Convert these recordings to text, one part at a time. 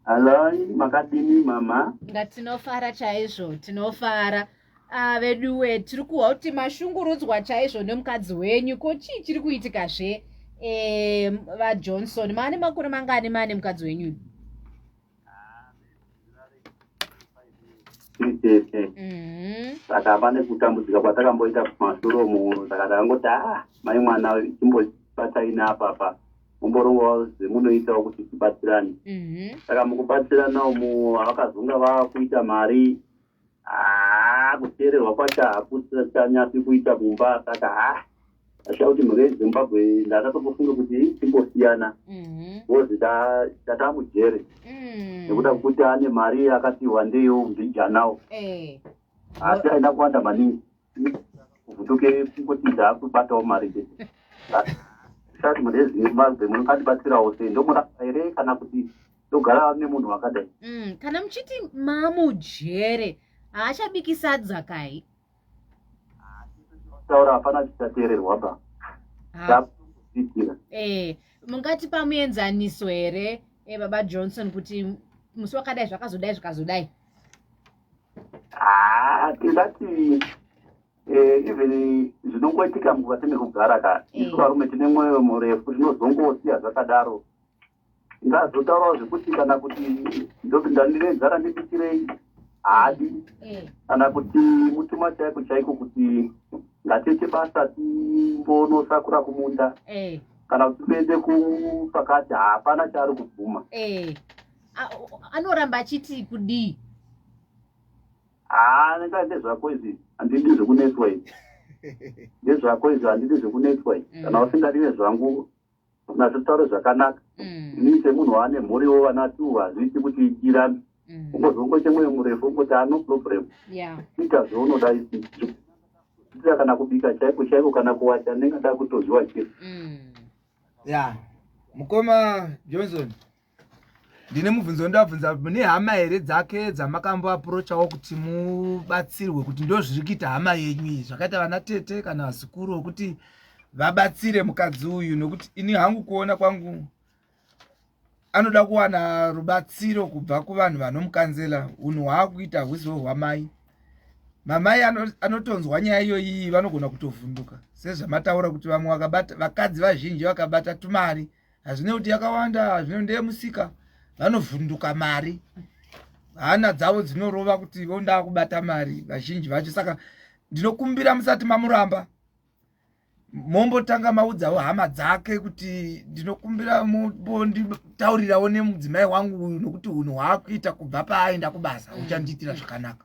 Haloi, makadini mama? Nga tinofara chaizvo, tinofara. Ah, veduwe, tiri kuhwa kuti mashungurudzwa chaizvo nemukadzi wenyu, ko chii chiri kuitika zve? Eh, vaJohnson, maane makore mangani maane mukadzi wenyu? tete mm-hmm. saka pane kutambudzika kwatakamboita kumasoro mu saka takangoti a ah, mai mwana chimbobatsaina apapa mumborongowa zvemunoitawo kuti tibatsirane mm-hmm. saka mukubatsirana umu vakazonga vakuita mari haa kuteererwa kwacho hakuchanyapi kuita kumba saka haa asha kuti mhuri yezimbabwe ndakatokufunga kuti timbosiyana bcoz mhm. ndataa mujere mm. nekuda kwekuti ane mari akatiwa ndeyo mbijanawo eh. asi aina kuwanda maningi vhutuke kungoti ndaakubatawo mari be sati murezi mumazbe munokatibatsirawo sei ndomurapa here kana kuti ndogara nemunhu wakadai mm, kana muchiti mamujere haachabiki sadza kai taura hapana chichateererwa ba eh, mungati pamuenzaniso here eh, baba johnson kuti musi wakadai zvakazodai zvikazodai haa ah, tingati eh, even zvinongoitika mukuva tinekugara ka eh. isu varume tine mwoyo murefu zvinozongosiya zvakadaro ngazotaurawo zvekuti kana kuti ndopinda ndinezara ndibikirei hadi eh. kana kuti mutuma chaiko chaiko kuti ngatiite basa timbonosakura kumunda kana kuti tiende kupakati hapana chaari kubvuma anoramba achiti kudii haa ndaa ndezvako izvi handidi zvekunetswa izvi ndezvako izvi handidi zvekunetswa izvi mm. kana usingadi nezvangu nazvitaure zvakanaka mm. inii semunhu waane mhuriwo vana two hazviiti kuti irambi mm. ungozongoite mwoyo murefu ungoti ano problem ita zvaunoda isii ita kana kubika chaiko chaiko kana kuwacha ndingada kutoziwa chii ya mukoma johnson ndine mubvunzo wandavabvunza mune hama here dzake dzamakambo aprochawo kuti mubatsirwe kuti ndo zviri kuita hama yenyu iyi zvakaita vana tete kana vazukuru wekuti vabatsire mukadzi uyu nokuti ini hangu kuona kwangu anoda kuwana rubatsiro kubva kuvanhu vanomukanzela unhu hwaakuita hwuziwo hwamai mamai anotonzwa nyaya iyoyiyi vanogona kutovhunduka sezvamataura kuti vamwe vakabata vakadzi vazhinji vakabata tumari hazvine kuti yakawanda hazvine ndeye musika vanovhunduka mari hana dzavo dzinorova kuti vondaa kubata mari vazhinji vacho saka ndinokumbira musati mamuramba mombotanga maudzawo hama dzake kuti ndinokumbira mombonditaurirawo nemudzimai wangu uyu nokuti unhu hwaakuita kubva paaenda kubasa uchandiitira zvakanaka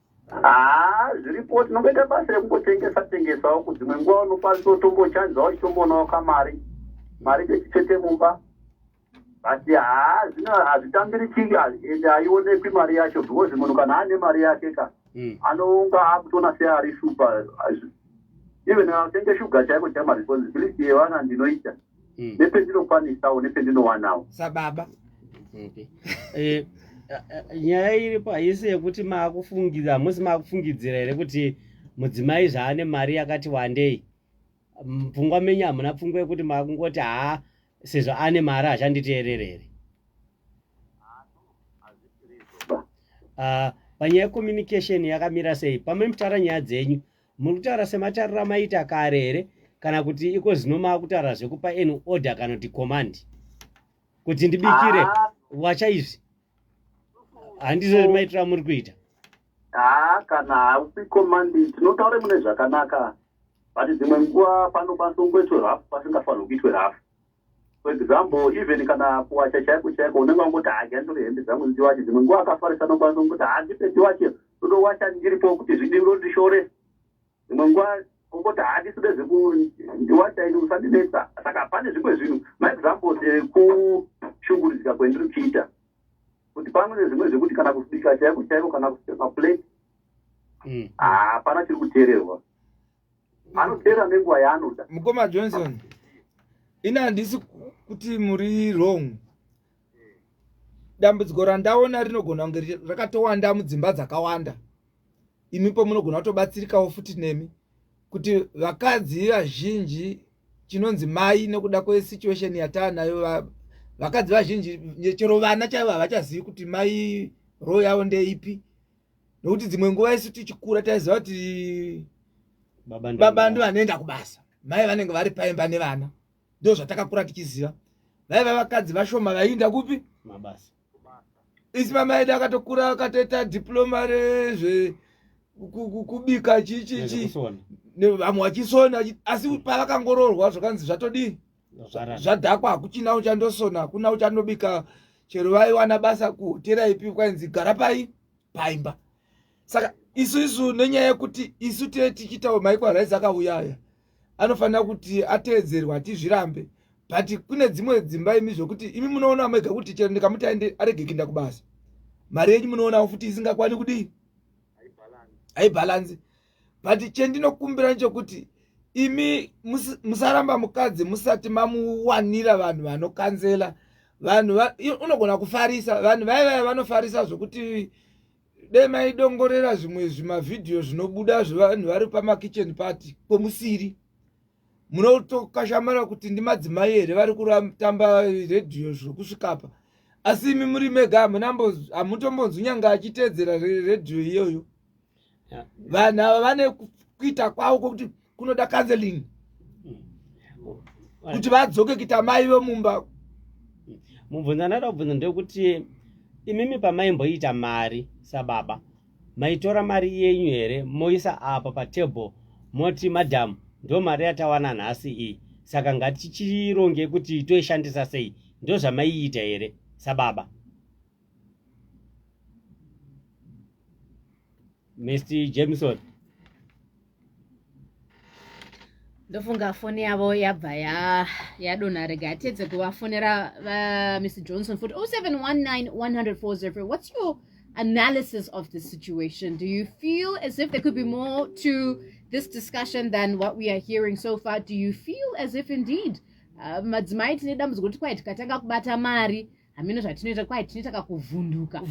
haa zviripo tinongoita basa rekungotengesa tengesawo kudzimwe nguva unokwanisa utombochanjawo uchitomboonawo kamari mari dzechitsvete mumba but haa zvino hazvitambirichiki ende haionekwi mari yacho because munhu kana aine mari yake ka hmm. anounga akutoona seari super even atenge shuga chaiko chamaresponsibility yevana ndinoita mm. mm. nependinokwanisawo nependinowanawo sababa okay. eh, nyaya iripo haisi yekuti maakufungidzira hamusi maakufungidzira here kuti mudzimai zvaane mari yakati wandei pfungwa menyu hamuna pfungwa yekuti makungoti haa sezvo ane mari hazhanditeerere here ah, panyaya yecommunication yakamira sei pamene mutaura nyaya dzenyu Muri kutaura sematariro amaita kare here kana kuti iko zino maakutaura zvekupa an order kana kuti command kuti ndibikire ah. wacha izvi handizo maitira muri kuita haa ah, kana haupi command tinotaure mune zvakanaka but dzimwe nguva panokwanisa kungoitwe rafu pasingafanirwe kuitwe rafu For example, even kana kuwacha chaiko chaiko unenge wangoti hadya ndiri hembe dzangu ndiwache dzimwe nguva akafarisa anokwanisa kungoti handipe ndiwache ndodowacha ndiripo kuti zvidii ndondishore dzimwe nguva ongoti handisi ndezvekundiwacha ini usandinetsa saka pane zvimwe zvinhu maexamples ekushungurudzika kwendiri kuita kuti pamwe nezvimwe zvekuti kana kusbika chaiko chaiko kana kusepa plate mm. hapana chiri kuteererwa anopera nenguva yaanoda mukoma johnson ini handisi kuti muri wrong dambudziko randaona rinogona kunge rakatowanda mudzimba dzakawanda imi pamunogona kutobatsirikawo futi nemi kuti vakadzi vazhinji chinonzi mai nekuda kwesituation yataanayo vakadzi vazhinji chero vana chaivo havachazivi kuti mai roo yavo ndeipi nokuti dzimwe nguva isu tichikura taiziva kuti baba ndo vanoenda kubasa mai vanenge vari paimba nevana ndo zvatakakura tichiziva vaiva vakadzi vashoma vaiinda kupi mabasa isi mama edu akatokura akatoita diploma rezve kubika chichichi vamwe vachisona asi pavakangororwa zvakanzi zvatodii zvadhakwa hakuchina uchandosona hakuna uchandobika chero vaiwana basa kuhotera ipi kwainzi gara pai paimba saka isu isu nenyaya yekuti isu tee tichiitawo maiko araizi akauya aya anofanira kuti ateedzerwa tizvirambe but kune dzimwe dzimba imi zvokuti imi munoona mega kuti chero ndikamuti aende arege kuenda kubasa mari yenyu munoonawo futi isingakwani kudii haibhalanzi but chendinokumbira nchokuti imi musaramba mukadzi musati mamuwanira vanhu vanokanzela vanhu unogona kufarisa vanhu vaye vaye vanofarisa zvokuti dai maidongorera zvimwe zvimavhidhiyo zvinobuda zvevanhu vari pamakitchen party kwemusiri munotokashamara kuti ndimadzimai here vari kutamba redhiyo zvokusvikapa asi imi muri mega hamutombonzwi nyanga achiteedzera redhiyo iyoyo vanhu ava vane kuita kwavo kwokuti kunoda counseling kuti vadzoke kuita mai vemumba mubvunzo ndanoda kubvunza ndewekuti imimi pamaimboita mari sababa maitora mari yenyu here moisa apa patable moti madam ndo mari yatawana nhasi iyi saka ngatichironge kuti toishandisa sei ndozvamaiita here sababa Mr. Jameson. ndofunga foni yavo yabva yadonha ya rega atedze kuvafonera vamr johnson futi 07191040 what's your analysis of the situation do you feel as if there could be more to this discussion than what we are hearing so far do you feel as if indeed uh, madzimai tine dambudziko kuti kwai tikatanga kubata mari hameno zvatinoita kwai tinoita kakuvhunduka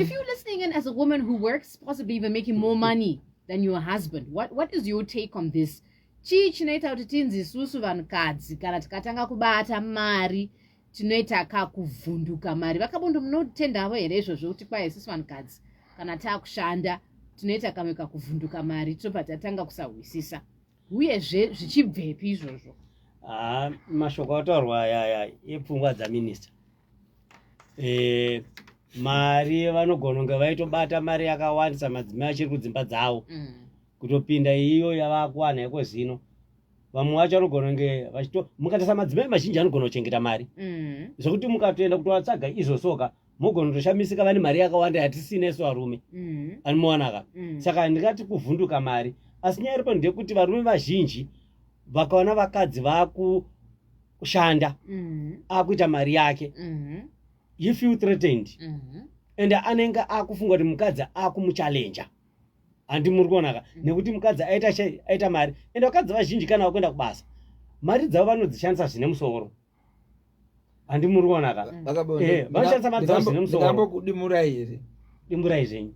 if you're listening and as a woman who works possibly even making more money than your husband what, what is your take on this chii chinoita kuti tinzi isusu vanhukadzi kana tikatanga kubata mari tinoita kakuvhunduka mari vakabondo munotendavo here izvozvo kuti kwai isusu vanhukadzi kana taakushanda tinoita kamwe kakuvhunduka mari tobva tatanga kusahwisisa uyezve zvichibvepi izvozvo haa ah, mashoko ataurwa aya aya epfungwa dzaminista e, eh, mari vanogona kunge vaitobata mari yakawandisa madzimai achiri kudzimba dzavo mm. kutopinda iyo yavakuwana yeko zino vamwe vacho vanogona kunge vachito mukatarisa madzimai mazhinji anogona kuchengeta mari mm. zvekuti mukatoenda kutovatsvaga izvosoka mogona kutoshamisika vane mari yakawanda yatisina isu varume mm. animowanaka mm. saka handingati kuvhunduka mari asi nyaya iripo ndeyekuti varume vazhinji vakaona vakadzi vakushanda mm. akuita mari yake mm-hmm. he feel threatened mm-hmm. and anenge akufunga kuti mukadzi akumuchalenja handi muri kuonaka mm. nekuti mukadzi aita mari and vakadzi vazhinji kana vakuenda kubasa mari dzavo vanodzishandisa zvine musoro handi muri kuona ka eh, vanoshandisa madhausi nemusoodambokudimurai here dimurai zvenyu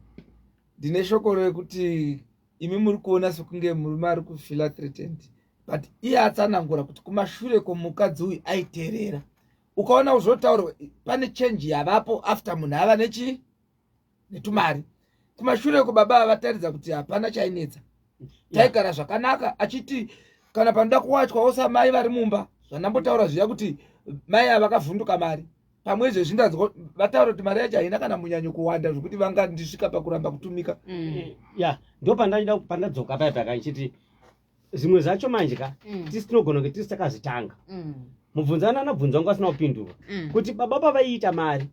ndine shoko rekuti imi muri kuona sekunge murume ari kufila threatened but iye atsanangura kuti kumashure kwomukadzi uyu aiterera ukaona zvotaurwa pane change yavapo after munhu ava nechii netumari kumashure uko baba vavataridza kuti hapana chainetsa taigara zvakanaka achiti kana panoda kuwachwa osa mai vari mumba zvandambotaura zviya kuti mai ava vakavhunduka mari pamwe izvezvi ndanzwa vataura kuti mari yacho haina kana munyanyo kuwanda zvekuti vangandisvika pakuramba kutumika mm. ya ndo pandaida pandadzoka paya paka ichiti zvimwe zvacho manje ka mm. tisi tinogona kunge tisi takazvitanga mm. mubvunzana anabvunzwa ngo asina kupindurwa kuti baba pavaiita mari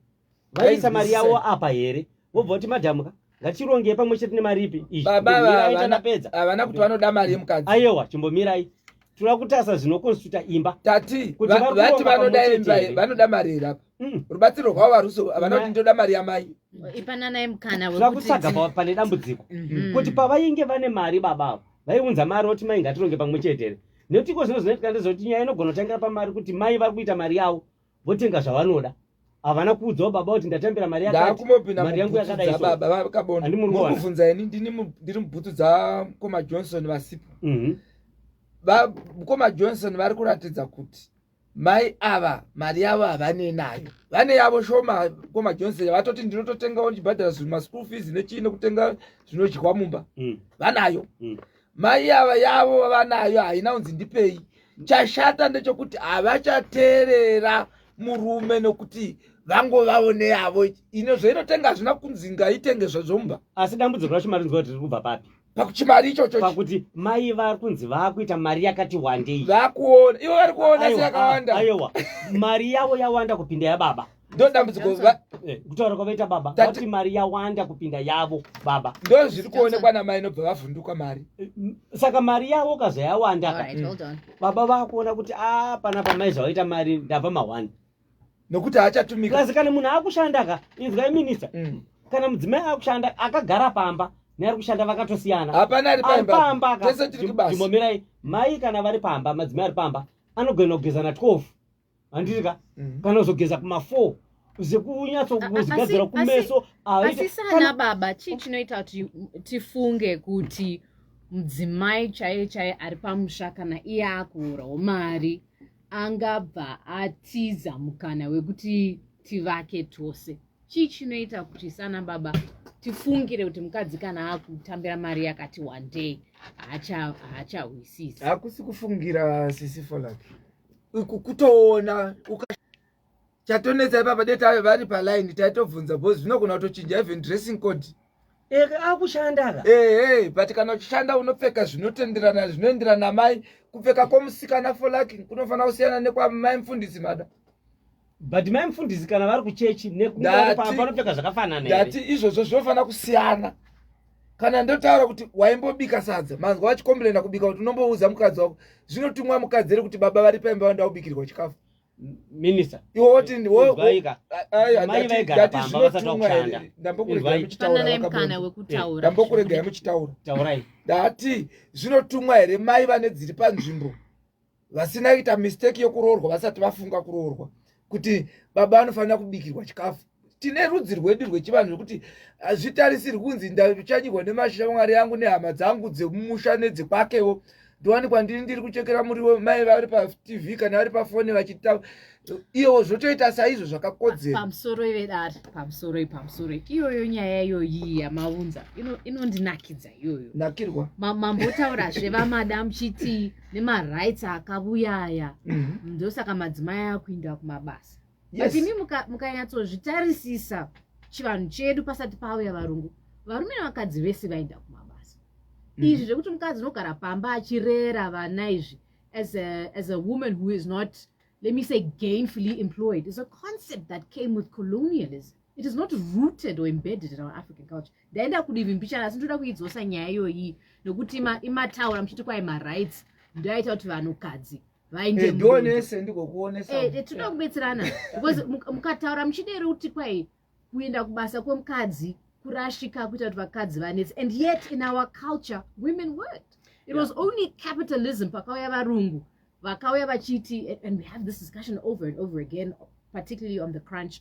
vaisa mari yavo apa here vobva kuti madhamu ka ngatirongei pamwe chete nemari ipi iitanapedza havana kuti vanoda mari yemukadzi ayewa chimbomirai tinoda kutasa zvinokonstituta imba tati vati vanoda imba vanoda mari here apa mm. rubatsiro rwavo haruso havana kuti ndoda mari yamai ipananai mukana tinoda kutsaga pane dambudziko mm-hmm. kuti pavainge vane mari baba avo vaiunza mari oti mai ngatironge pamwe chete here nekuti iko zvino zvinoitika ndezvekuti nyaya inogona kutangira pamari kuti mai vari kuita mari yavo votenga zvavanoda havana kuudzawo baba kuti ndatambira mari yakamari yangu yakadaibabavakabonamubvunza ini ndiri mubhutu dzamukoma johnson vasipo mhm. mukoma johnson vari kuratidza kuti mai ava mari yavo havane nayo vane yavo shoma koma johnson vatoti ndinototengawo ndichibhadhara zvima school fees nechii nekutenga zvinodyiwa mumba mm. vanayo mm. mai ava yavo vavanayo haina unzi ndipei chashata ndechokuti havachateerera murume nokuti vangovawo neyavo ine zvainotenga hazvina kunzi ngaitenge zvazvomba asi dambudziko racho mari nzwa kuti riri kubva papi pakuchimari ichocho pakuti mai vari kunzi vakuita mari yakati wandei vakuona ivo vari kuona seyakawanda ayewa mari yavo yawanda kupinda yababa ndodambudziko eh, kutaura kwavaita baba vati mari yawanda kupinda yavo baba ndo zviri kuonekwa namai inobva vavhunduka mari eh, saka mari yavo kaza yawanda ka mm. baba vakuona kuti a ah, pana pamai zvavaita mari ndava mawani nokuti haachatumika kazi kana munhu akushanda ka inzwai minista mm. kana mudzimai akushanda akagara pamba neari kushanda vakatosiyana hapana ari pamba ka tese tiri kubasa ndimomirai mai kana vari pamba madzimai ari pamba anogona kugeza na 12 handiti ka mm. kana uzogeza kuma four uze kunyatsokuzigadzira kumeso asi sana baba chii chinoita kuti tifunge kuti mudzimai chaiye chaiye ari pamusha kana iye akuurawo mari angabva atiza mukana wekuti tivake tose chii chinoita kuti sana baba tifungire kuti mukadzi kana akutambira mari yakati wandei haachahwisisi hakusi kufungira sisi folak kutoona chatonetsa ipapa dai tave vari paline taitobvunza bcause zvinogona kutochinja even dressing code akushandaka ehe but kana uchishanda unopfeka zvinotenderana zvinoenderana mai kupfeka kwomusikana for lucking kunofanira kusiyana nekwamai mfundisi mada but mai mufundisi kana vari kuchechi nekunopfeka zvakafanana ndati izvozvo zvinofanira kusiyana kana ndotaura kuti waimbobika sadza manzwa vachikomburena kubika kuti unombouza mukadzi wako zvinotumwa mukadzi ere kuti baba vari paimba vanda ubikirwa chikafu minista iwo woti ndambokuregai muchitaura ndati zvinotumwa here mai vane dziri panzvimbo vasina kuita mistake yekuroorwa vasati vafunga kuroorwa kuti baba vanofanira kubikirwa chikafu tine rudzi rwedu rwechivanhu zvekuti hazvitarisiri kunzi ndachanyirwa nemashira mwari yangu nehama dzangu dzemumusha nedzekwakewo ndowanikwa ndini ndiri kuchekera muriwo mai vari patv kana vari pafoni vachita iyewo zvotoita saizvo zvakakodzera pamusoro ivedari pamusoro ipamusoro iyoyo nyaya iyoyi yamavunza inondinakidza iyoyo nakirwa mambotaura zvevamada muchiti nemarights akavuya aya mhm. ndosaka madzimai akuinda kumabasa but imi mukanyatsozvitarisisa chivanhu chedu pasati pauya varungu varume nevakadzi vese vainda kumabasa mhm. izvi zvekuti mukadzi unogara pamba achirera vana izvi as a woman who is not let me say gainfully employed is a concept that came with colonialism it is not rooted or embedded in our african culture ndaenda kudivi mbichana asi ndoda kuidzosa nyaya iyoyi nekuti imataura muchiti kwai marights ndoaita kuti vanhukadzi vaindionese eh, ndikokuonesa eh, eh, tinoda kubetserana because mukataura muchidero kuti kwai kuenda kubasa kwemukadzi kurashika kuita kuti vakadzi vanetsi and yet in our culture women work it was only capitalism pakauya varungu vakauya vachiti and we have this discussion over and over again particularly on the crunch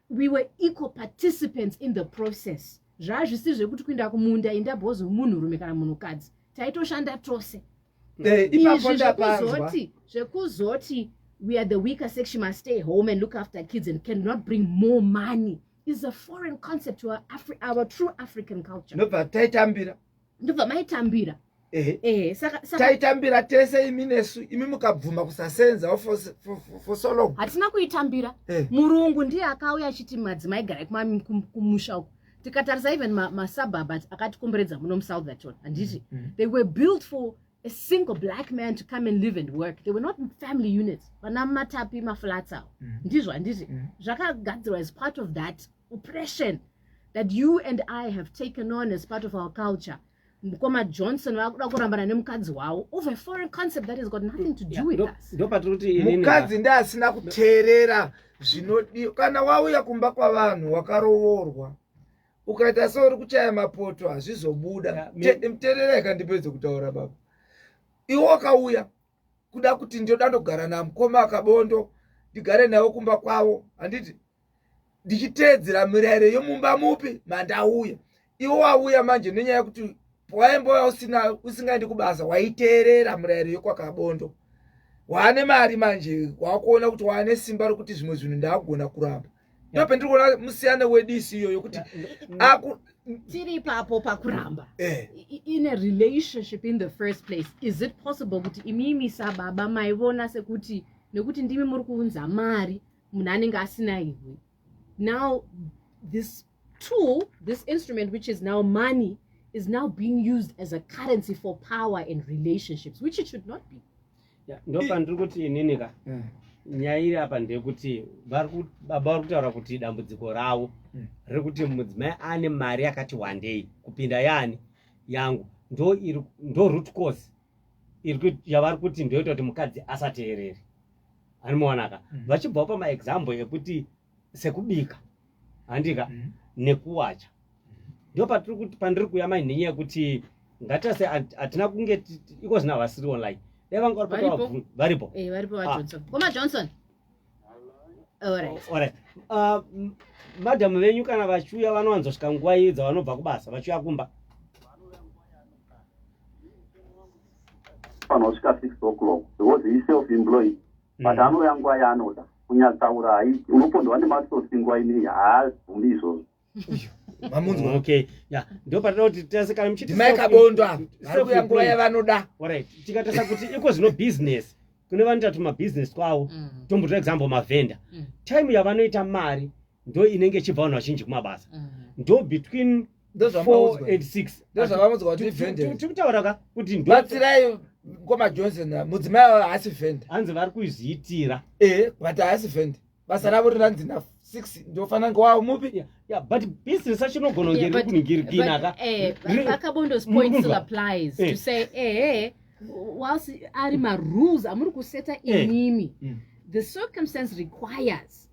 we were equal participants in the process zvaazvisi zvekuti kuinda kumunda inda bhozi munhurume kana munhukadzi taitoshanda tose eh, izvi zvekuzoti zvekuzoti we are the weaker section must stay home and look after kids and cannot bring more money is a foreign concept to our, Afri our true african culture nobva taitambira ndobva maitambira ehe taitambira tese imi nesu imi mukabvuma kusasenza for so long hatina kuitambira murungu ndiye akauya achiti madzimai garai kumusha uko tikatarisa even masuburb akatikomberedza muno musoutherton handiti mm, mm. they were built for a single black man to come and live and work they were not family units vana matapi maflats awo mm. ndizvo handiti zvakagadzirwa as part of that oppression mm. that you and i have taken on as part of our culture mukoma johnson vakuda kurambana nemukadzi wavo over foreign concept that has got nothing to do with us mukadzi ndi asina kuteerera zvinodiwa kana wauya kumba kwavanhu wakarovorwa ukaita seuri kuchaya mapoto hazvizobuda mteerera ikandipedze kutaura baba iwe wakauya kuda kuti ndoda ndogara namukoma akabondo ndigare navo kumba kwavo handiti ndichiteedzera mirayiro yomumba mupi mandauya iwo wauya manje nenyaya yekuti pawaimbouya usina usingaendi kubasa waiteerera mirayiro yokwakabondo waane mari manje wakuona kuti waane simba rokuti zvimwe zvinhu ndaagona kuramba ndopendiri kuona musiyana wedisi iyoyo kuti aku tiri ipapo pakuramba eh. in a relationship in the first place is it possible kuti imimi sababa maivona sekuti nekuti ndimi muri kuunza mari munhu anenge asina iwe now this tool this instrument which is now money is now being used as a currency for power and relationships which it should not be ndopandiri kuti inini ka eh. nyaya iri apa ndeyekuti baba vari kutaura kuti dambudziko ravo hmm. rekuti mudzimai ane mari yakati wandei kupinda yaani yangu ndo iri ndo root cause yavari kuti ndoita kuti mukadzi asateerere anomuonaka hmm. vachibvawo pamaexample ekuti sekubika handika mm -hmm. nekuwacha ndo patiri kuti pandiri kuya mai nhenye yekuti ngatase hatina kunge iko zvina vasiri online dai vanga varipotavabvu varipo eh, varipo vajohnson ah. koma johnson alright oh, ah, madhamu venyu kana vachiuya vanowanzosvika nguva iyi dzavanobva kubasa vachiuya kumba vanosvika six o'clock because he self employed but mm. anouya nguva yaanoda kunyatsaura haiti unopondwa nematsotsi nguva inei haazvumi izvozvo mamunzwa okay ya ndo patinoti tese kana muchiti mai kabondwa vari kuya nguva yavanoda orit tikatesa kuti iko zvino business kune vanoita tuma business kwavo mm. tombotora example mavhenda mm. time yavanoita mari ndo inenge ichibva vanhu vazhinji kumabasa mm. ndo between tikutaura ka kuti batsirai mkoma johnson ah, mudzimai avo haasi vend hanzi vari kuzviitira ee but haasi vend basa ravo rinanzi na six ndofanira kunge wavo mupi ya but business acho inogona kunge ri kuningirikina ka eh, vakabondos point still applies to eh. say ee eh, eh whilst ari marules amuri kuseta eh. imimi mm. the circumstance requires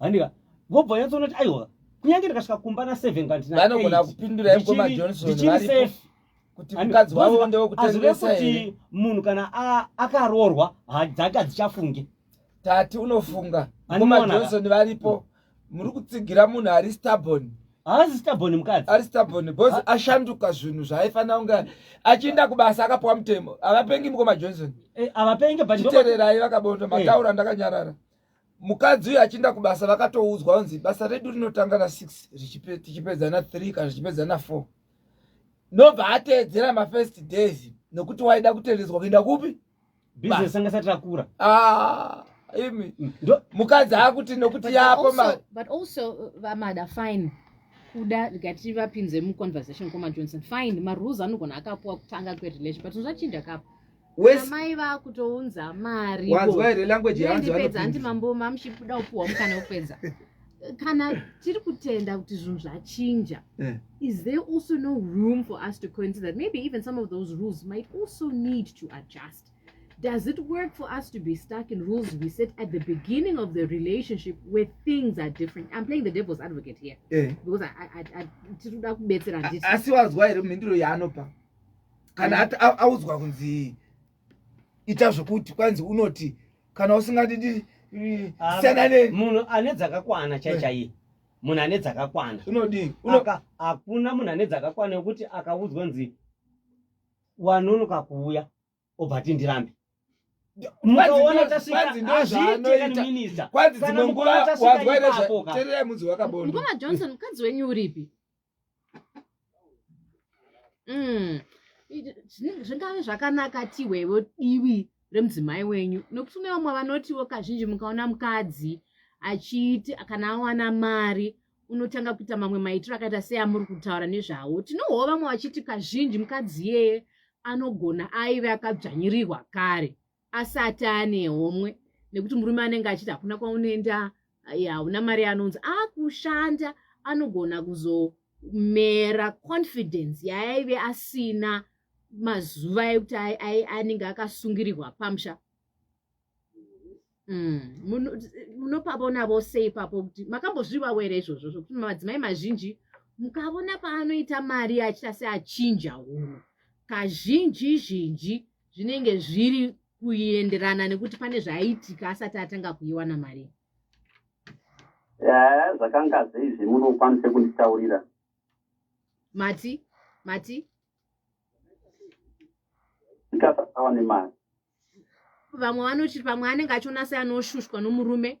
handika vobva nyatsoona kuti aiwa kunyange ndikasvika kumba na seven kandinavanogona kupindura yekoma johnson azvive kuti munhu kana akaroorwa dzake hadzichafunge tati unofunga koma johnson varipo muri kutsigira munhu ari stabon haazi stabon mukadzi ari stabon bcause ah. ashanduka zvinhu zvaaifanira kunge achienda kubasa akapiwa mutemo havapengi mukoma johnson eh, avapengi but chitererai vakabonda eh. mataura ndakanyarara mukadzi uyu achiinda kubasa vakatoudzwa unzi basa redu rinotanga na six tichipedza na three kana zvichipedza na four nobva ateedzera mafirst days nokuti waida kutendedzwa kuenda kupi business anga sati rakura ah imi mm. mukadzi akuti nokuti yapo mari but also uh, vamada fine kuda ngati vapinze muconversation koma johnson fine marules anogona akapuwa kutanga kwerelation but zvinzachinja kapo amai vakutounza mari wanzwa here language yaanzipedza hanti mambo mamuchibuda upuhwa mukana wekupedza kana tiri kutenda kuti zvinhu zvachinja eh. is there also no room for us to consider that maybe even some of those rules might also need to adjust does it work for us to be stuck in rules we set at the beginning of the relationship where things are different i'm playing the devil's advocate here eh. because tiri kuda kubetsera asi wazwa here mhinduro yaanopa kana ati audzwa kunzi ita zvekuti kwanzi unoti kana usingadi ah, siyanane munhu ane dzakakwana chaichaiye eh. munhu ane dzakakwana unodii hakuna munhu ane dzakakwana yokuti akaudzwa nzi wanonoka kuuya obva ti ndirambe mukaona tasvikaazviitieaminister kwanzi dzimwe nguva wazwa nezvatererai munzi wakabonda ngoma johnson mukadzi wenyu uripi mm. zvingave zvakanaka ti wevo divi remudzimai wenyu nokuti une vamwe vanotiwo kazhinji mukaona mukadzi achiiti kana awana mari unotanga kuita mamwe maitiro akaita seamuri kutaura nezvawo tinohoo vamwe vachiti kazhinji mukadzi iyeye anogona aive akadzvanyirirwa kare asati ane homwe nekuti murume anenge achiti hakuna kwaunoenda hauna mari anonzi akushanda anogona kuzomera confidence yaaive asina mazuva ekuti anenge akasungirirwa pamusha mm. munopavona vose ipapo kuti makambozvivawo here izvozvo zvokuti madzimai mazhinji mukavona paanoita mari achita seachinja hunhu kazhinji zhinji zvinenge zviri kuenderana nekuti pane zvaiitika asati atanga kuiwana mari eh, zvakanga zvei zvemuno ukwanise kunditaurira mati mati ndikasasawa nemari vamwe vanoti pamwe anenge achionasai anoshushwa nomurume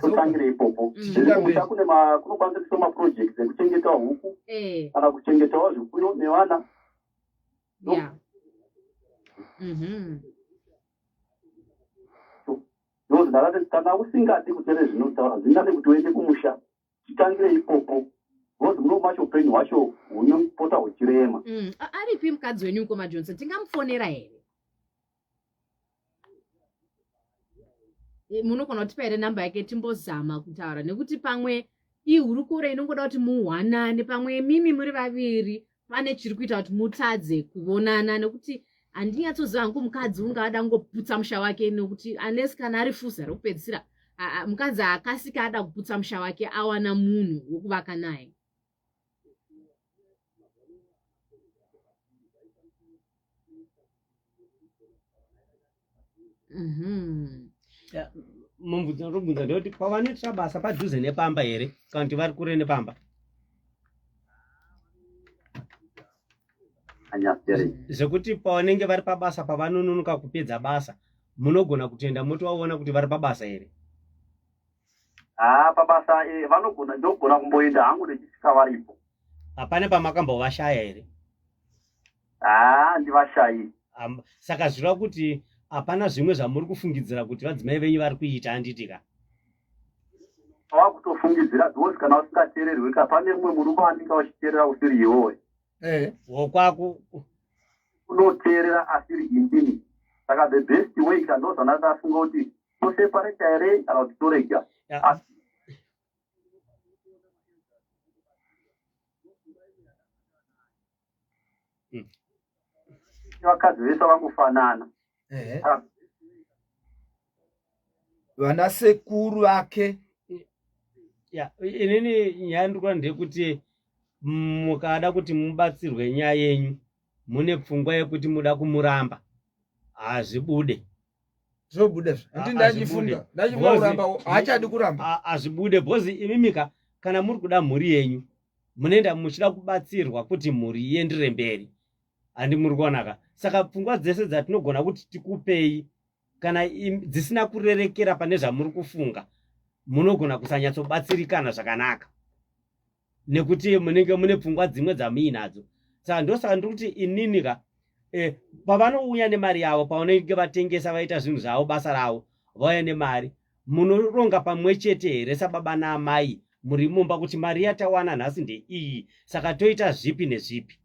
totangire ipopo musha mm. kunokwanisa kuisa maproject ekuchengeta huku eh. kana kuchengetawo zvipfuyo nevana mm-hmm. ndozi ndakati kana usingadi kutere zvinotaura zvindane kuti uende kumusha titangire ipopo bcoz muno macho upenyu hwacho hunopota huchirema mm. aripi mukadzi wenyu ukoma johnson tingamufonera here eh, munogona kutipa here number yake timbozama kutaura nekuti pamwe ihurukuro inongoda kuti muwanane pamwe mimi muri vaviri pane chiri kuita kuti mutadze kuvonana nekuti handinyatsoziva hangu mukadzi unge ada kungoputsa musha wake nekuti unless kana ari fuza rekupedzisira mukadzi akasika ada kuputsa musha wake awana munhu wokuvaka naye Mhm. Ya, mubvunzo ndobvunza ndeyoti pavanoitira basa padhuze nepamba here kana kuti vari kure nepamba anyapere zvekuti pavanenge vari pabasa pavanononoka kupedza basa munogona kutoenda motovaona kuti vari pabasa here haa pabasa eh, vanogona ndogona kumboenda hangu ndichisvika varipo hapana pamakambovashaya here haa ndivashayi saka zvireva kuti hapana zvimwe zvamuri kufungidzira kuti vadzimai venyu vari kuita handiti ka ava kutofungidzira because kana usingateererwi ka pane mumwe murume andinga uchiteerera usiri iwowe eh. wokwaku unoteerera asiri indini saka the best way ka ndozvandasafunga kuti tosepareta here kana kuti torega hmm. vakadzi vese vangofanana vana sekuru vake ya inini nyaya ndikuona ndeyekuti mukada kuti mubatsirwe nyaya yenyu mune pfungwa yekuti muda kumuramba hazvibude zvobuda zvekuti ah, ndachifunga ndachifunga kuramba haachadi kuramba ah, hazvibude bhozi imimika kana muri kuda mhuri yenyu munoenda muchida kubatsirwa kuti mhuri iendere mberi handi muri kuonaka saka pfungwa dzese dzatinogona kuti tikupei kana dzisina kurerekera pane zvamuri kufunga munogona kusanyatsobatsirikana zvakanaka nekuti munenge mune pfungwa dzimwe dzamuinadzo saka ndosaka ndiri kuti inini ka eh, pavanouya nemari yavo pavanenge vatengesa vaita zvinhu zvavo basa ravo vauya nemari munoronga pamwe chete here sababa naamai muri mumba kuti mari yatawana nhasi ndeiyi saka toita zvipi nezvipi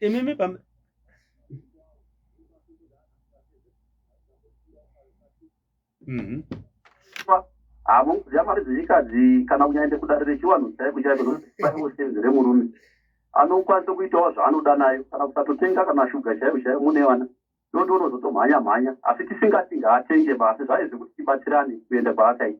imimi pam mm-hmm. havo kudya mari dzechikadzi kana kunyaende kudare rechivanhu chaiko chaiko aiwo senzi remurume anokwanisa kuitawo zvaanoda nayo kana kusatotenga kana shuga chaivo chaivo mune vana ndotonozotomhanya mhanya asi tisingati ngaatenge basi zvaizi kuti tibatsirane kuenda kwaakaita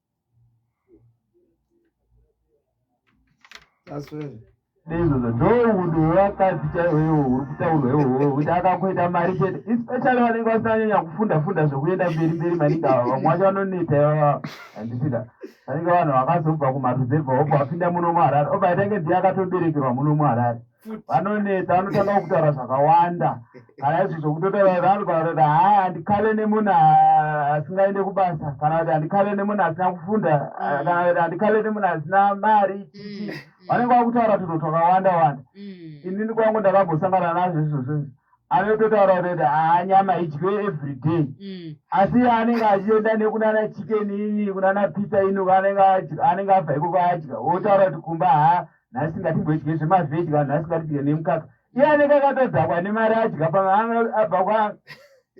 ndoudowakadzi chaiwo iwo uri kutaurwa iwowo kuti akakuita mari chete especially vanenge vasinanyanya kufunda funda zvekuenda mberi mberi maningi ava vamwe vacho vanoneta ivava handisida vanenge vanhu vakazobva kumaruzevha oko vapinda muno muharare obaita nge ndiye akatoberekerwa muno muharare vanoneta vanotanga kutaura zvakawanda kana izvo zvokutotaaanogaakuti haa handikale nemunhu asingaende kubasa kana kuti handikale nemunhu asina kufunda mm. kana kuti handikale nemunhu asina mari mm, mm. vanenge vakutaura tunhu twakawanda wanda inini kwangu ndakambosangana nazvo izvozvo anototaura kuti haa nyama idye everyday asi anenge achienda nekunana chicken ini kunana pita inu anenge abva ikoko adya otaura kuti kumba haa nhasi ngatimboidye zvemavheji kana nhasi ngatidye nemukaka iye anenge akatodhakwa nemari adya paabva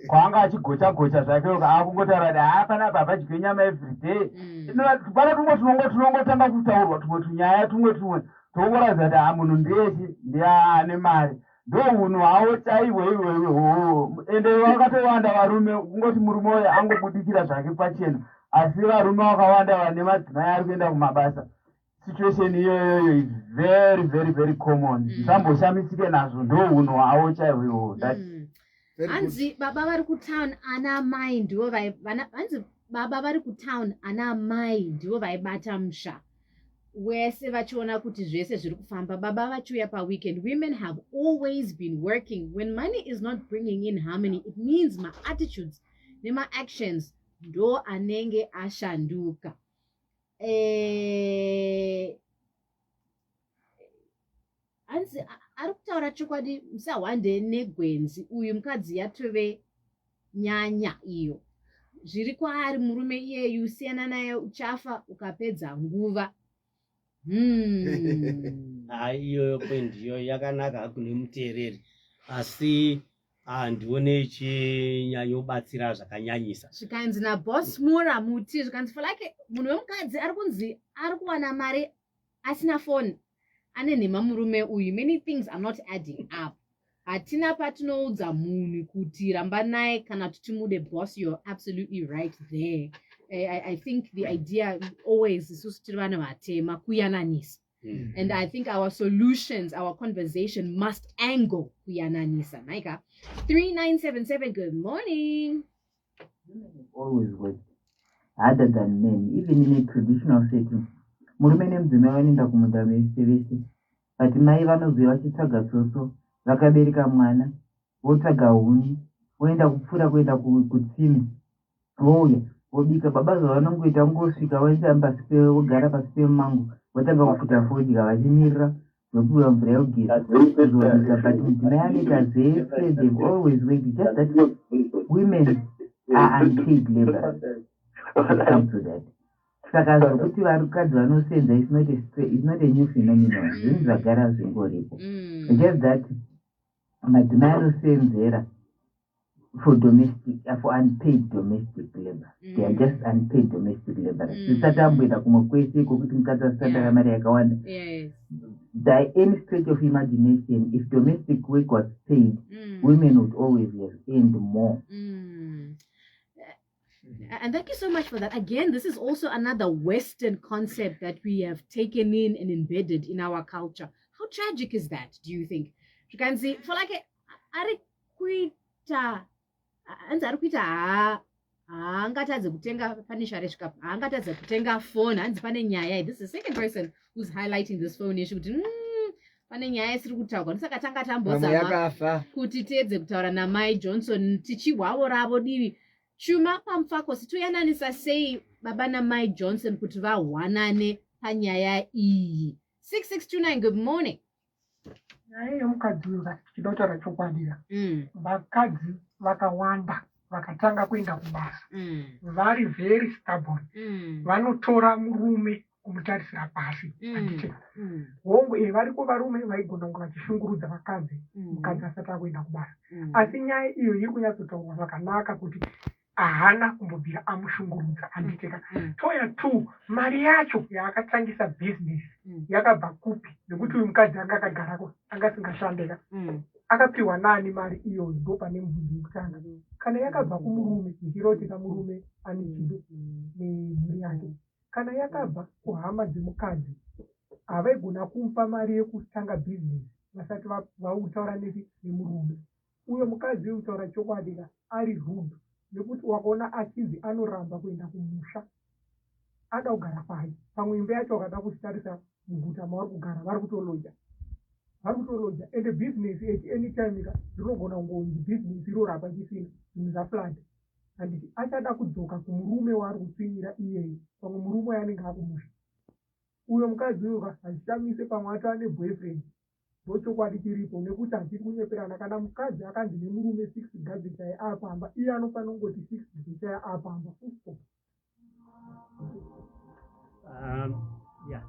kwaanga achigocha gocha zvake uka akungotaura kuti haa pana apa havadye nyama everyday mm. pana tumwe tunongo tunongotanga kutaurwa tumwe tunyaya tumwe tumwe toongoratidza kuti haa munhu ndechi ndiaane mari ndo hunhu havo chaiwe iwewe hoo ende vakatowanda varume kungoti murume uyo angobudikira zvake pachena asi varume vakawanda vane madzimai ari kuenda kumabasa situation iyoyoyo is very very very common mm. samboshamisike mm. nazvo ndo hunhu hwavo chaivo ihoho that mm. hanzi baba vari kutown ana amai ndivo hanzi baba vari kutown ana amai ndivo vaibata musha wese vachiona kuti zvese zviri kufamba baba vachiuya paweekend women have always been working when money is not bringing in harmony it means maattitudes nemaactions ndo anenge ashanduka eh, hanzi ari kutaura chokwadi musahwande negwenzi uyu mukadzi yatove nyanya iyo zviri kwaari murume iyeyu siyana naye uchafa ukapedza nguva hmm. hai iyoyo kwendiyo yakanaka hakune muteereri asi handione ah, chinyanyobatsira zvakanyanyisa zvikanzi nabos mora muti zvikanzi for like munhu wemukadzi ari kunzi ari kuwana mari asina foni ane nhema murume uyu many things are not adding up hatina patinoudza munhu kuti ramba naye kana kuti timude bos you're absolutely right there I, I think the idea always isusu tiri vanhu vatema kuyananisa Mm. And I think our solutions, our conversation must angle kuyananisa. Maika, 3977, good morning. Always work harder than men, even in a traditional setting. Murume nemudzimai vanoenda kumunda vese vese, but mai vanoziva vachitsvaga tsotso vakabereka mwana votsvaga huni voenda kupfuura kuenda kutsime vouya vobika baba zvavanongoita kungosvika voitamba vogara pasi pemango votanga kufuta fodya vachimirira zvopiwa mvura yogeza kuzovisa but mudzimai anoita zvese them always wait just that women are unpaid labors come to that saka zvokuti vakadzi vanosenza is not a new phenomenon zvinhu zvagara zvingoripo mm. just that madzimai anosenzera for domestic uh, for unpaid domestic labor mm. they are mm. just unpaid domestic labor mm. zvisati mm. amboenda kumwe kwese iko kuti mukadzi asisatara yeah. mari yakawanda yes. by any stretch of imagination if domestic work was paid mm. women would always have earned more mm. And thank you so much for that. Again, this is also another Western concept that we have taken in and embedded in our culture. How tragic is that, do you think? You can see, for like, ari kuita, anzi ari kuita haa, haangatadze kutenga pane share shikapu haangatadze kutenga phone hanzi pane nyaya this is the second person who's highlighting this phone issue kuti mm, pane nyaya isiri kutaurwa ndosaka tanga tambozama kuti tiedze kutaura namai johnson tichihwavo ravo divi chuma pamufako sitoyananisa sei baba namai johnson kuti vahwanane panyaya iyi 6629 good morning nyaya yemukadzi uyu vati tichida kutaura chokwadira mm. vakadzi vakawanda vakatanga kuenda kubasa mm. vari very stubborn mm. vanotora murume kumutarisira pasi mm. anditi mm. hongu e variko varume vaigona kunge vachishungurudza vakadzi mm. mukadzi asati akuenda kubasa asi nyaya iyo iri kunyatsotaurwa zvakanaka kuti ahana kumbobvira amushungurudza anditeka toya t mari yacho yaakatangisa bhizinesi yakabva kupi nekuti uyu mukadzi anga akagarako anga asingashandeka akapiwa nani mari iyoyo ndo pane mubvunzi wekutanga kana yakabva kumurume zvichiroteka murume ane chido nemhuri yake kana yakabva kuhama dzemukadzi havaigona kumupa mari yekutanga business vasati vautaura nesi nemurume uyo mukadzi uyu kutaura chokwadi ka ari rude nekuti wakaona achinzi anoramba kuenda kumusha ada kugara kwaye pamwe imba yacho wakada kusitarisa muguta mavari kugara vari kutoloja vari kutoloja ende business at any time ka rinogona kungonzi business irorapa chisina zvinhu zvaflad handiti achada kudzoka kumurume waari kutsvinyira iyeye pamwe murume waye anenge akumusha uyo mukadzi uyo ka hazvishamise pamwe ato ane boyfriend ndochokwadi chiripo nekuti hachiri kunyeperana kana mukadzi akanzi nemurume six gadzi chaye apamba iye anofanira kungoti six gadzi chaye apamba fusto Um, yeah.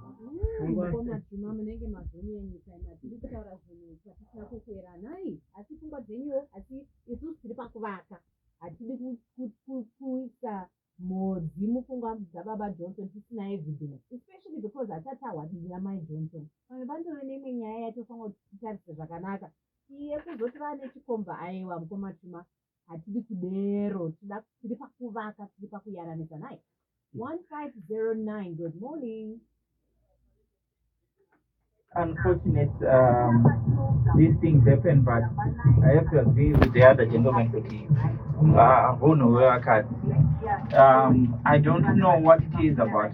Fungwa- Mukoma Juma munenge mazonyanya nyika ino hatidi kutaura zvinhu zvatisina kukwera nhai asi pfungwa dzenyuwo asi isusu tiri pakuvaka hatidi ku- ku- ku- kuisa mhodzi mupfungwa dzababa johnson tisina evidence especially because hatisati tahwadiri amai johnson pamwe pandove neimwe nyaya yatofanira kuti titarise zvakanaka iye kuzoti vane chikomba aiwa mukoma Juma hatidi kudero tida tiri pakuvaka tiri pakuyaranisa nhai 1509 good morning unfortunate um, these things happen but i have to agree with the other gentleman kuti uh, hunhu hwevakadzi um, i don't know what it is about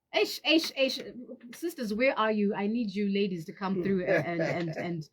Eish, eish, eish. Sisters, where are you? I need you ladies to come through and, and, and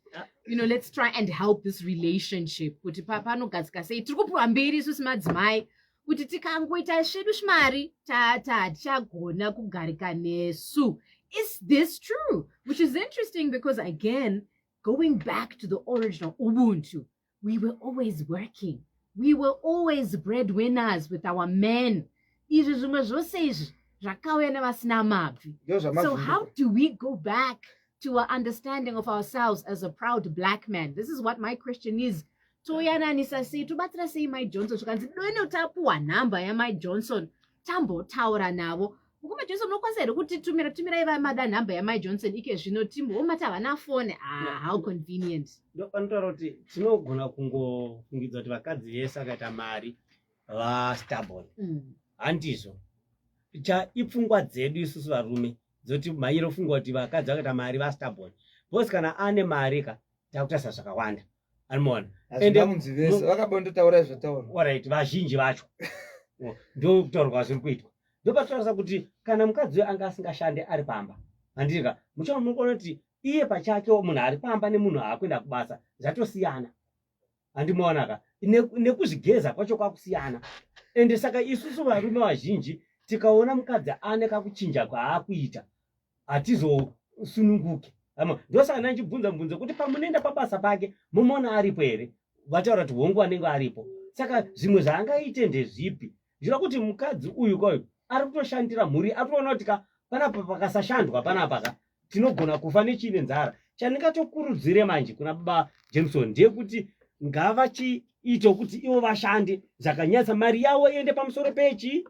you know, let's try and help this relationship. Kuti panogadzika sei tiri kupiwa mberi isusu madzimai kuti tikangoita zvedu shimari tatichagona kugarika nesu. Is this true? Which is interesting because again, going back to the original Ubuntu, we were always working we were always bread winners with our men izvi zvimwe zvose izvi zvakauya nevasina mabvi so how do we go back to our understanding of ourselves as a proud black man this is what my question is toyananisa sei tobatsira sei mai johnson zvikanzi done utapuwa nhamba yamai johnson tambotaura navo mukoma johnson unokwanisa here kuti tumira tumira iva mada nhamba yamai johnson ike zvino timbomati havana fone ah, how convenient ndopanotaura kuti tinogona kungofungidza kuti vakadzi vese akaita mari vastabon mm. handizvo cha ipfungwa dzedu isusu varume dzoti mairo fungwa kuti vakadzi vakaita mari vastabon bcause kana ane mari ka takutarisa zvakawanda anomaona vakabototauraizvatauraorit vazhinji vacho ndokutaurwa zviri kuitwa ndopatotarisa kuti kana mukadzi uyo anga asingashande ari pamba handirika muchava munokuona kuti iye pachake munhu ari pamba nemunhu aakuenda kubasa zvatosiyana handimaonaka nekuzvigeza kwacho kwakusiyana ende saka isusu varume vazhinji tikaona mukadzi ane kakuchinja kwaakuita hatizosununguke hama ndosaka nanjibvunza mubvunzo kuti pamunoenda pabasa pake mumona aripo here vataura kuti hongu anenge aripo saka zvimwe zvaangaite ndezvipi zviva kuti mukadzi uyu kwayo ari kutoshandira mhuri ari kutoona kuti ka panapa pakasashandwa panapa ka tinogona kufa nechiine nzara chandingatokurudzire manje kuna baba jameson ndeyekuti ngavachiito kuti ivo vashande zvakanyatsa mari yavo iende pamusoro pechi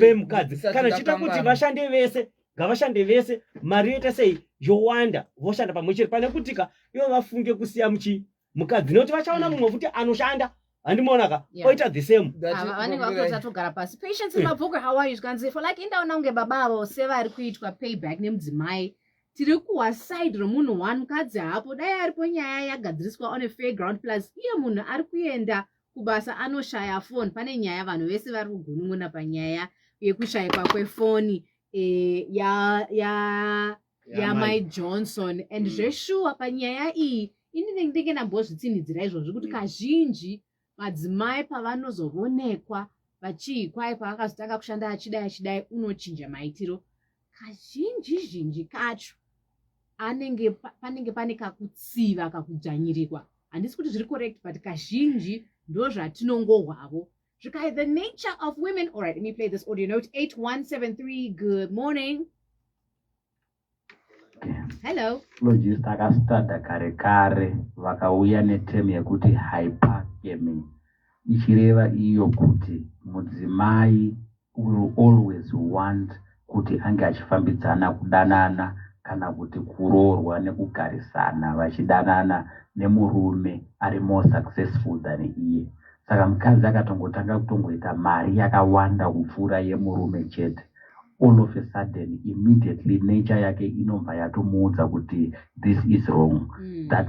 pemukadzi kana chiita kuti vashande vese ngavashande vese mari yoita sei yowanda voshanda pamwe chete pane kutika ivo vafunge kusiya muchi mukadzi nekuti vachaona mm. mumwe futi anoshanda handimoonaka oita the same ah, vanenge vakutotatogara pasi patience eh. mabhuku how are you zvikanzi for like indaona kunge baba avo sevari kuitwa payback nemudzimai tiri kuwa side remunhu one mukadzi haapo dai aripo nyaya yagadziriswa on a fair ground plus iye munhu ari kuenda kubasa anoshaya foni pane nyaya vanhu vese vari kugunun'una panyaya yekushaikwa kwefoni e, ya ya yamai johnson and mm. zveshuwa panyaya iyi ini ndenge ndambozvitsinhidzira izvozvi kuti mm. kazhinji madzimai pavanozovonekwa vachii kwai pavakazotanga kushanda achidai achidai unochinja maitiro kazhinji zhinji kacho anenge panenge pane kakutsiva kakudzvanyirirwa handisi kuti zviri correct but kazhinji ndozvatinongohwavo zvikai the nature of women all right let me play this audio note 8173 good morning hello logist akastada kare kare vakauya netem yekuti hypergamy ichireva iyo kuti mudzimai will always want kuti ange achifambidzana kudanana kana kuti kuroorwa nekugarisana vachidanana nemurume ari more successful than iye saka mukadzi akatongotanga kutongoita mari yakawanda kupfuura yemurume chete all of a sudden immediately nature yake inobva yatomuudza kuti this is wrong mm. that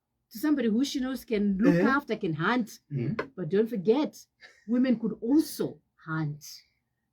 to somebody who she knows can look eh? after, can hunt. Mm. But don't forget, women could also hunt.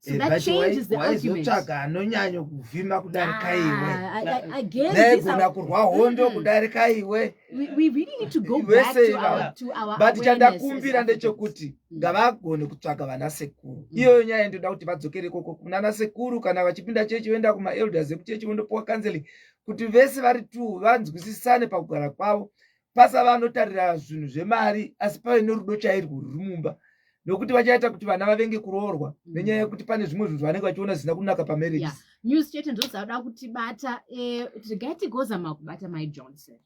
So eh, that changes why, the why argument. Zotsvaga anonyanya kuvhima kudarika iwe. Ah, I guess negona kurwa hondo kudarika iwe. We, we really need to go back to our, to our But chandakumbira ndechekuti mm. ngavagone kutsvaga vana sekuru. Mm. Iyoyo nyaya ndoda kuti vadzokere koko kunana sekuru kana vachipinda chechi voenda kuma elders ekuchechi vondopuwa counseling kuti vese vari two vanzwisisane pakugara kwavo pasava anotarira zvinhu zvemari asi pave nerudo chairwo ruri mumba nokuti vachaita kuti vana vavenge kuroorwa mm. nenyaya yekuti pane zvimwe zvinhu zvavanenge vachiona zvisina kunaka pamarriage news chete ndozauda kutibata eh, regai tigozama kubata my johnson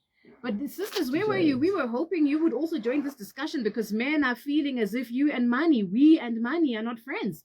But sisters, where were you? We were hoping you would also join this discussion because men are feeling as if you and money, we and money are not friends.